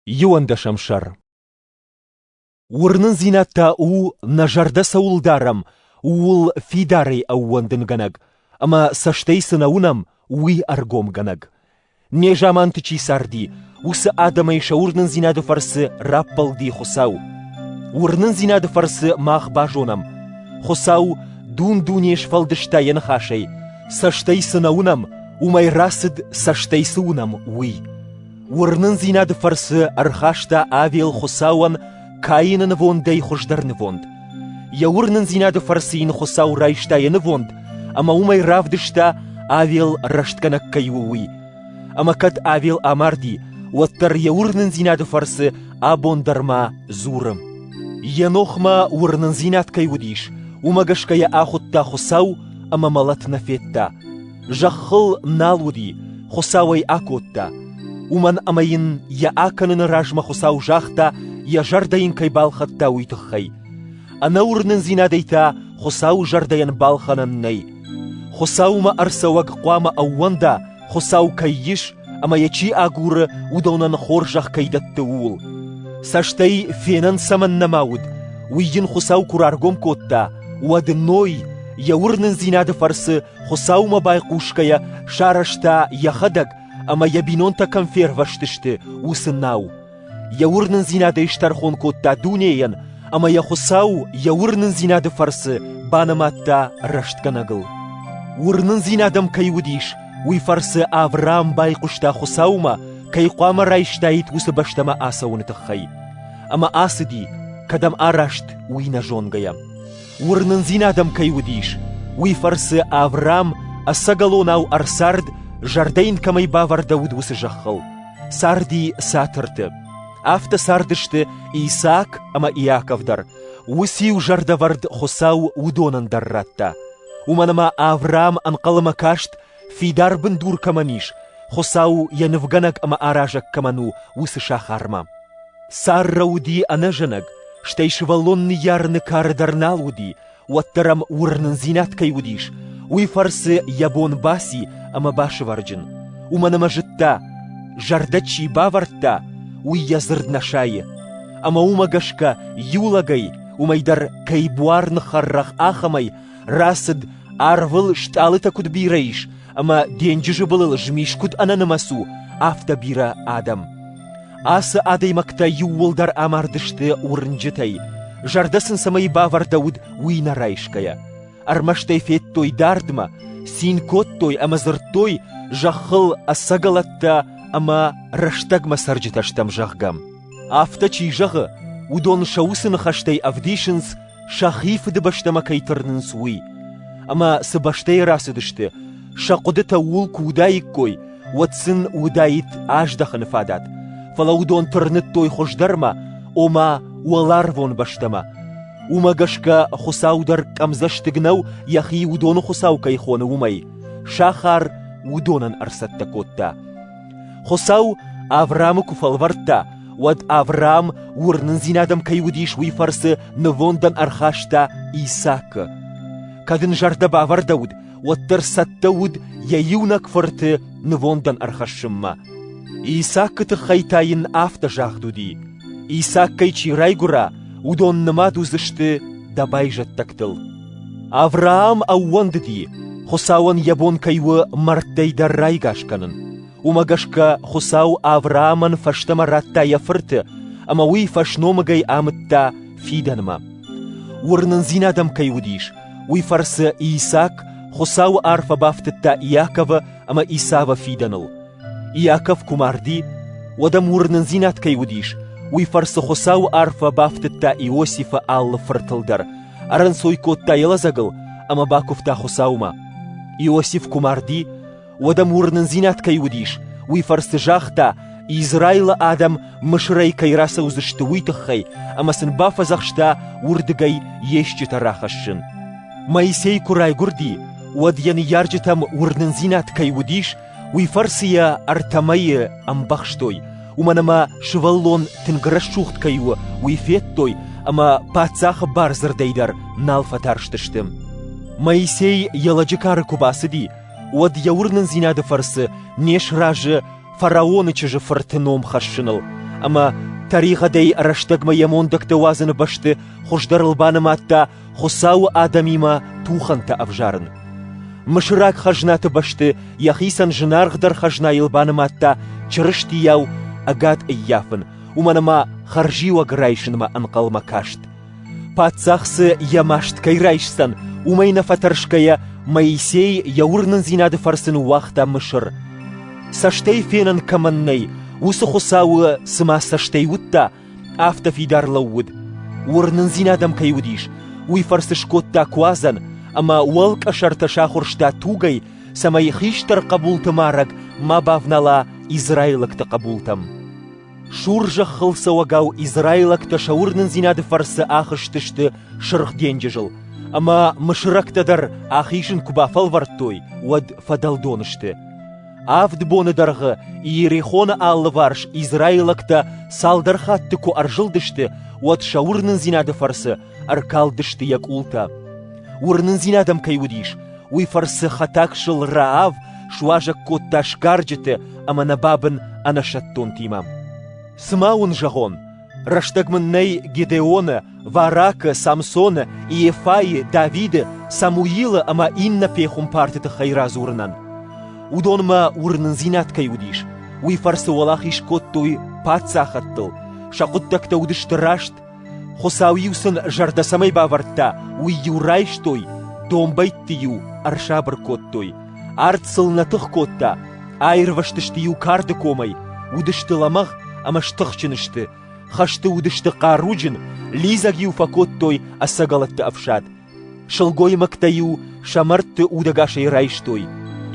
Иуӕндӕсӕм сӕр Уырнындзинад та у, нӕ зӕрдӕ цӕуыл дарӕм, ууыл фидарӕй ӕууӕндынгӕнӕг, ӕмӕ цӕстӕй цы нӕ уынӕм, уый ӕргомгӕнӕг. Не заманты чи царди, уыцы адӕмӕй сӕ уырнындзинады фӕрцы раппӕлди Хуыцау. Уырнындзинады фӕрцы мах базонӕм, Хуыцау дун-дуне сфӕлдыста йӕ ныхасӕй, цӕстӕй цы нӕ уынӕм, уымӕй рацыд, цӕстӕй цы уынӕм, уый. Уырнындзинады фӕрцы ӕрхаста Авел Хуыцауӕн Каины нывондӕй хуыздӕр нывонд. Йӕ уырнындзинады фӕрцы йын Хуыцау райста йӕ нывонд, ӕмӕ уымӕй равдыста, Авел рӕстгӕнӕг кӕй у, уый. Ӕмӕ кӕд Авел амарди, уӕддӕр йӕ уырнындзинады фӕрцы абон дӕр ма дзуры. Енохмӕ уырнындзинад кӕй уыдис, уымӕ гӕсгӕ йӕ ахуыдта Хуыцау ӕмӕ мӕлӕт нӕ федта. Зӕххыл нал уыди, Хуыцау ӕй акодта, уымӕн ӕмӕ йын йӕ акӕныны размӕ Хуыцау загъта, йӕ зӕрдӕ йын кӕй балхӕдта, уый тыххӕй. Ӕнӕуырнындзинадӕй та Хуыцауы зӕрдӕйӕн балхӕнӕн нӕй. Хуыцаумӕ ӕрцӕуӕг хъуамӕ ӕууӕнда, Хуыцау кӕй ис ӕмӕ йӕ чи агуры, уыдонӕн хорзӕх кӕй дӕтты, ууыл. Цӕстӕй фенӕн цӕмӕннӕ ма уыд, уый йын Хуыцау куы раргом кодта, уӕд Ной йӕ уырнындзинады фӕрцы Хуыцаумӕ байхъусгӕйӕ сарӕзта, йӕхӕдӕг ӕмӕ йӕ бинонтӕ кӕм фервӕзтысты, уыцы нау. Йӕ уырнындзинадӕй стӕрхон кодта дунейӕн, ӕмӕ йӕ Хуыцау йӕ уырнындзинады фӕрцы банымадта рӕстгӕнӕгыл. Уырнындзинад ӕм кӕй уыдис, уый фӕрцы Авраам байхъуыста Хуыцаумӕ, кӕй хъуамӕ райстаид уыцы бӕстӕмӕ ацӕуыны тыххӕй. Ӕмӕ ацыди, кӕдӕм араст, уый нӕ зонгӕйӕ. Уырнындзинад ӕм кӕй уыдис, уый фӕрцы Авраам ӕцӕгӕлонау ӕрцард, зӕрдӕ йын кӕмӕй бавӕрдӕуыд, уыцы зӕххыл. Царди цатырты. Афтӕ цардысты Исаак ӕмӕ Иаков дӕр. Уыцы-иу зӕрдӕвӕрд Хуыцау уыдонӕн дӕр радта. Уымӕн ӕмӕ Авраам ӕнхъӕлмӕ каст Фидар бындур кӕмӕн ис, Хуыцау йӕ нывгӕнӕг ӕмӕ аразӕг кӕмӕн у, уыцы сахармӕ. Сӕрра уыди ӕнӕзӕнӕг, стӕй сывӕллон ныййарыны кары дӕр нал уыди, уӕддӕр ӕм уырнындзинад кӕй уыдис, уый фӕрцы йӕ бон баци ӕмӕ басывӕрджын. Уымӕн ӕмӕ зыдта, зӕрдӕ чи бавӕрдта, уый йӕ дзырд нӕ сайы. Ӕмӕ уымӕ гӕсгӕ иу лӕгӕй, уымӕй дӕр кӕй буар ныххӕррӕгъ ахӕмӕй, Рацыд, арвыл стъалытӕ куыд бирӕ ис, ӕмӕ денджызы былыл змис куыд ӕнӕнымӕц у, афтӕ бирӕ адӕм. Ацы адӕймӕгтӕ иууылдӕр амардысты уырнджытӕй, зӕрдӕ сын цӕмӕй бавӕрдӕуыд, уый нӕ райсгӕйӕ. Ӕрмӕст ӕй федтой дардмӕ, цин кодтой ӕмӕ дзырдтой, зӕххыл ӕцӕгӕлӕттӕ ӕмӕ рӕстӕгмӕ цӕрджытӕ стӕм, зӕгъгӕ. Афтӕ чи зӕгъы, уыдон сӕ уыцы ныхӕстӕй ӕвдисынц, сӕхи фыдыбӕстӕмӕ кӕй тырнынц, уый. Ӕмӕ цы бӕстӕйы рацыдысты, сӕ хъуыдытӕ ууыл куы уыдаиккой, уӕд сын уыдаид аздӕхыны фадат, фӕлӕ уыдон тырныдтой хуыздӕрмӕ, ома уӕларвон бӕстӕмӕ. Уымӕ гӕсгӕ Хуыцау дӕр къӕмдзӕстыг нӕу, йӕхи уыдоны Хуыцау кӕй хоны, уымӕй. Сахар уыдонӕн ӕрцӕттӕ кодта. Хуыцау Авраамы куы фӕлвӕрдта, уӕд Авраам уырнындзинадӕм кӕй уыдис, уый фӕрцы нывондӕн ӕрхаста Исаакы. Кӕд ын зӕрдӕ бавӕрдӕуыд, уӕддӕр цӕттӕ уыд йӕ иунӕг фырты нывондӕн ӕрхӕссынмӕ. Исаакы тыххӕй та йын афтӕ загъд уыди: Исаккӕй чи райгуыра, уыдон нымад уыдзысты дӕ байзӕддӕгтыл. Авраам ӕууӕндыди, Хуыцауӕн йӕ бон кӕй у мӕрдтӕй дӕр райгас кӕнын. Уымӕ гӕсгӕ Хуыцау Авраамӕн фӕстӕмӕ радта йӕ фырты, ӕмӕ уый фӕсномыгӕй амыдта фидӕнмӕ. Уырнындзинад ӕм кӕй уыдис, уый фӕрцы Исак Хуыцауы арфӕ бафтыдта Иаковы ӕмӕ Исавы фидӕныл, Иаков куы марди, уӕд ӕм уырнындзинад кӕй уыдис, уый фӕрцы Хуыцауы арфӕ бафтыдта Иосифы алы фыртыл дӕр, ӕрӕнцой кодта йӕ лӕдзӕгыл ӕмӕ бакуывта Хуыцаумӕ. Иосиф куы марди, уӕд ӕм уырнындзинад кӕй уыдис, уый фӕрцы загъта, Израилы адӕм Мысырӕй кӕй рацӕудзысты, уый тыххӕй, ӕмӕ сын бафӕдзӕхста уырдыгӕй йе стджытӕ рахӕссын. Моисей куы райгуырди, уӕд йӕ ныййарджытӕм уырнындзинад кӕй уыдис, Уый фӕрцы йӕ ӕртӕ мӕйы ӕмбӕхстой, уымӕн ӕмӕ сывӕллон тынг рӕсугъд кӕй у, уый федтой ӕмӕ паддзахы бардзырдӕй дӕр нал фӕтарстысты. Моисей йӕ лӕджы кары куы бацыди, уӕд йӕ уырнындзинады фӕрцы не сразы фараоны чызджы фырты ном хӕссыныл, ӕмӕ тӕригъӕдӕй рӕстӕгмӕ йӕ мондӕгтӕ уадзыны бӕсты хуыздӕрыл банымадта Хуыцауы адӕмимӕ тухӕнтӕ ӕвзарын. Мысыраг хӕзнаты бӕсты йӕхицӕн зынаргъдӕр хӕзнайыл банымадта Чырыстийау ӕгад ӕййафын, уымӕн ӕмӕ хӕрзиуӕг райсынмӕ ӕнхъӕлмӕ каст. Паддзах цы йӕ маст кӕй райсдзӕн, уымӕй нӕ фӕтӕрсгӕйӕ, Моисей йӕ уырнындзинады фӕрцы ныууагъта Мысыр. Цӕстӕй фенӕн кӕмӕн нӕй, уыцы Хуыцауы цыма цӕстӕй уыдта, Афтӕ фидар лӕууыд, уырнындзинад ӕм кӕй уыдис, уый фӕрцы скодта куадзӕн ӕмӕ уӕлкъӕсӕртӕ сахуырста тугӕй, цӕмӕй хистӕр хъӕбулты марӕг ма бавнала израилӕгты хъӕбултӕм. Сур зӕххыл цӕуӕгау израилӕгтӕ сӕ уырнындзинады фӕрцы ахызтысты Сырх денджызыл, ӕмӕ мысырӕгтӕ дӕр ахизын куы бафӕлвӕрдтой, уӕд фӕдӕлдон сты. Авд боны дӕргъы Иерихоны алыварс израилӕгтӕ цалдӕр хатты куы ӕрзылдысты, уӕд сӕ уырнындзинады фӕрцы ӕркалдысты йӕ къултӕ. Уырнындзинад ӕм кӕй уыдис, уый фӕрцы хӕтӕгсыл Раав суазӕг кодта сгарджыты ӕмӕ нӕ бабын ӕнӕсӕттонтимӕ. Цымӕ уын зӕгъон, Рӕстӕг мын нӕй Гедеоны, Варакы, Самсоны, Иефайы, Давиды, Самуилы ӕмӕ иннӕ пехуымпарты тыххӕй радзурынӕн. Уыдонмӕ уырнындзинад кӕй уыдис, уый фӕрцы уӕлахиз кодтой паддзахӕдтыл, сӕ хъуыддӕгтӕ уыдысты раст, Хуыцау-иу сын зӕрдӕ цӕмӕй бавӕрдта, уый-иу райстой, домбӕйтты-иу ӕрсабыр кодтой, Арт сыл нӕ тых кодта, аирвӕзтысты-иу карды комӕй, уыдысты лӕмӕгъ ӕмӕ стыхджын сты, хӕсты уыдысты хъаруджын, лидзӕг-иу фӕкодтой ӕцӕгӕлӕтты ӕфсад. Сылгоймӕгтӕ-иу сӕ мӕрдты удӕгасӕй райстой,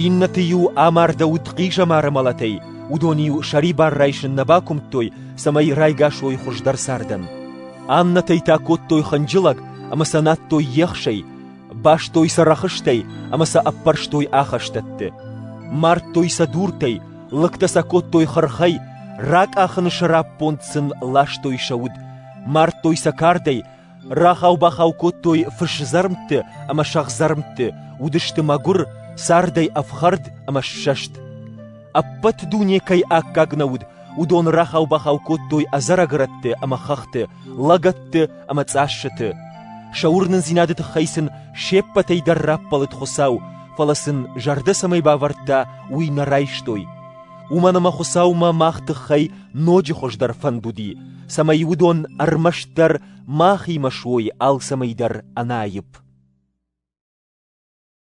иннӕты-иу амардӕуыд хъизӕмары мӕлӕтӕй, уыдон-иу сӕрибар райсын нӕ бакуымдтой, цӕмӕй райгас уой хуыздӕр цардӕн. Аннӕтӕй та кодтой хынджылӕг ӕмӕ сӕ надтой ехсӕй, Бастой сӕ рӕхыстӕй ӕмӕ сӕ ӕппӕрстой ахӕстӕтты. Мардтой сӕ дуртӕй, лыгтӕ сӕ кодтой хырхӕй, ракъахыны сӕраппонд сын ластой сӕ уд, мардтой сӕ кардӕй, рахау-бахау кодтой фысдзӕрмтты ӕмӕ сӕгъдзӕрмтты, уыдысты мӕгуыр, цардӕй ӕфхӕрд ӕмӕ ссӕст. Ӕппӕт дуне кӕй аккаг нӕ уыд, уыдон рахау-бахау кодтой ӕдзӕрӕгрӕтты ӕмӕ хӕхты, лӕгӕтты ӕмӕ цъассыты. Сӕ уырнындзинады тыххӕй сын се ппӕтӕй дӕр раппӕлыд Хуыцау, фӕлӕ сын зӕрдӕ цӕмӕй бавӕрдта, уый нӕ райстой. Уымӕн ӕмӕ Хуыцаумӕ мах тыххӕй ноджы хуыздӕр фӕнд уыди, цӕмӕй уыдон ӕрмӕстдӕр махимӕ суой алцӕмӕй дӕр ӕнаипп.